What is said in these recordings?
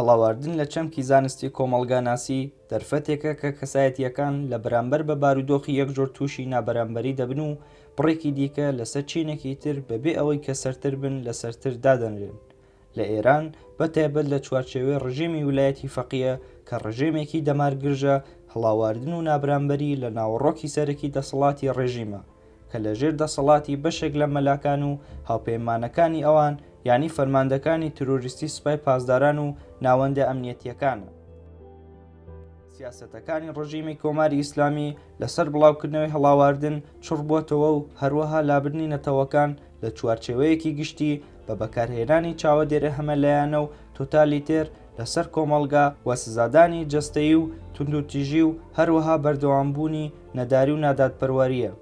هەڵاواردن لە چەمکی زانستی کۆمەڵگاناسی دەرفەتێکە کە کەسایەتیەکان لە بەرامبەر بە بارودۆخی یەکجۆر تووشی نابەرامبەری دەبن و بڕێکی دیکە لەسەر چینێکی تر بەبێ ئەوەی کە سەرتر بن لە سەرتر دادەنرێن لە ئێران بە تایبەت لە چوارچێوەی ڕژێمی ولایەتی فەقیە کە ڕژێمێکی دەمار گرژە هەڵاواردن و نابرامبەری لە ناوەڕۆکی سەرەکی دەسەڵاتی ڕێژیمە کە لە ژێر دەسەڵاتی بەشێک لە مەلاکان و هاوپەیمانەکانی ئەوان یانی فەرماندەکانی ترۆریستی سپای پاسداران و ناوەندە ئەمنیەتیەکانە. سیاسەتەکانی ڕژیمی کۆماری ئیسلامی لەسەر بڵاوکردنەوەی هەڵاواردن چڕ بۆتەوە و هەروەها لابردنی نەتەوەکان لە چوارچێوەیەکی گشتی بە بەکارهێنانی چاوەدێرە هەمەلایەنە و تۆتالیتێر لەسەر کۆمەڵگا و سزادانی جەستەیی و توندوتیژی و هەروەها بەردەوامبوونی نەداری و نادادپەروەرییە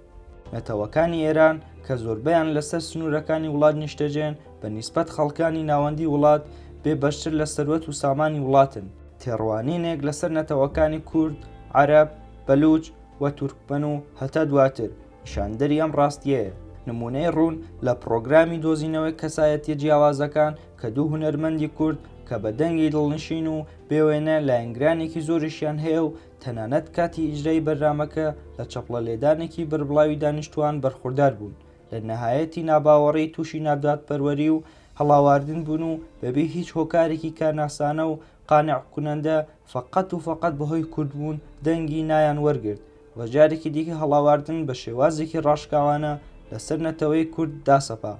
نەتەوەکانی ئێران کە زۆربەیان لەسەر سنوورەکانی وڵات نیشتەجێن بە نیسبەت خەڵکانی ناوەندی وڵات بێ بەشتر لە سەروەت و سامانی وڵاتن تێڕوانینێک لەسەر نەتەوەکانی کورد، عەرەب، بەلووچ و تورکمەن و هەتا دواتر نیشاندەری ئەم ڕاستییەیە. نموونەی ڕوون لە پڕۆگرامی دۆزینەوەی کەسایەتییە جیاوازەکان کە دوو هونەرمەندی کورد کە بە دەنگی دڵنشین و بێ وێنە لایەنگرانێکی زۆریشیان هەیە و تەنانەت کاتی ئیجرای بەرنامەکە لە چەپڵە لێدانێکی بەربڵاوی دانیشتوان بەرخوردار بوون، لە نەهایەتی ناباوەڕی تووشی نادادپەروەری و هەڵاواردن بوون و بەبێ هیچ هۆکارێکی کارناسانە و قانع کونەندە فەقەت و فەقەت بەهۆی کورد بوون دەنگی نایان وەرگرت و جارێکی دیکە هەڵاواردن بە شێوازێکی ڕاشکاوانە لەسەر نەتەوەی کورد داسەپا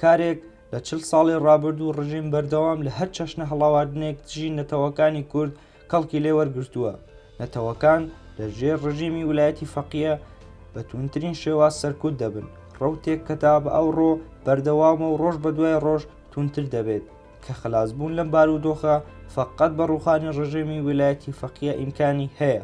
کارێک لە چل ساڵی ڕابردوو ڕژیم بەردەوام لە هەر چەشنە هەڵاواردنێک دژی نەتەوەکانی کورد کەڵکی لێ وەرگرتووە، نەتەوەکان لە ژێر ڕژیمی ولایەتی فەقیە بە توندترین شێواز سەرکوت دەبن، ڕەوتێک کە تا بە ئەوڕۆ بەردەوامە و ڕۆژ بەدوای ڕۆژ توندتر دەبێت، کە خەلاسبوون لەم بارودۆخە فەقەت بە ڕووخانی ڕژێمی ولایەتی فەقیە ئیمکانی هەیە.